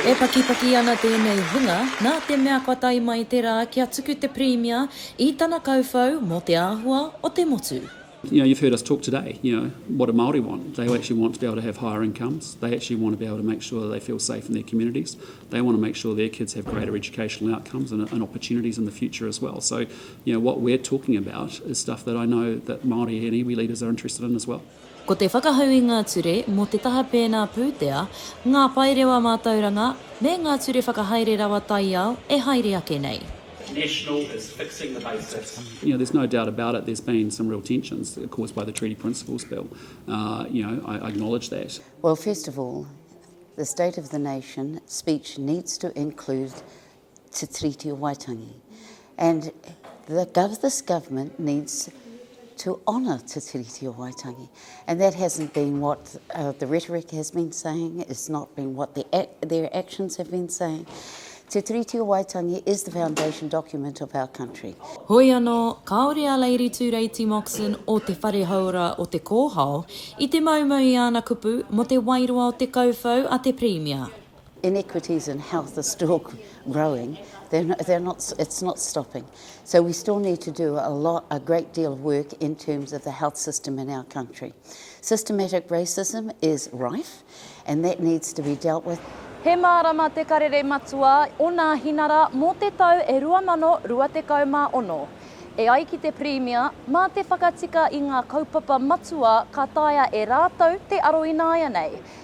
E pakipaki ana tēnei hunga nā te mea kua tae mai te rā kia tuku te Pirimia i tana kauwhau mō te āhua o te motu. You know, you've heard us talk today, you know, what do Māori want? They actually want to be able to have higher incomes, they actually want to be able to make sure that they feel safe in their communities, they want to make sure their kids have greater educational outcomes and and opportunities in the future as well. So, You know, what we're talking about is stuff that I know that Māori and iwi leaders are interested in as well. Ko te whakahau i ngā ture mō te taha pēnā pūtea, ngā paerewa mātauranga, me ngā ture whakahaere rawa taiao e haere ake nei. National is fixing the basics. You know, there's no doubt about it, there's been some real tensions caused by the Treaty Principles Bill. Uh, you know, I, I acknowledge that. Well, first of all, the State of the Nation speech needs to include Te Tiriti o Waitangi. And the gov this government needs to honour Te Tiriti o Waitangi. And that hasn't been what uh, the rhetoric has been saying, it's not been what the ac their actions have been saying. Te Tiriti o Waitangi is the foundation document of our country. Hoi anō, kāore a Lady Tūreiti Moxon o Te Whare Hauora o Te Kōhao i te maumau i āna kupu mō te wairoa o te kauwhau a te Pirimia. inequities in health are still growing, they're not, it's not stopping. So we still need to do a lot, a great deal of work in terms of the health system in our country. Systematic racism is rife and that needs to be dealt with. He mārama te karere matua o Nāhinara mō te tau e 2026. E ai ki te Pirimia, mā te whakatika i ngā kaupapa matua ka taea e rātou te aro ināianei.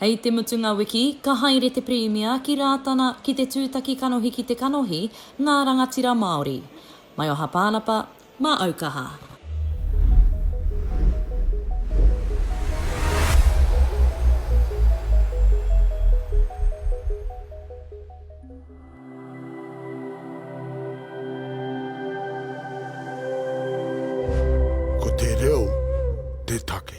Hei te mutunga wiki, ka haere te Pirimia ki Rātana ki te tūtaki kanohi ki te kanohi ngā rangatira Māori. Mai o Hapānapa, mā Aukaha. Ko te reo te take.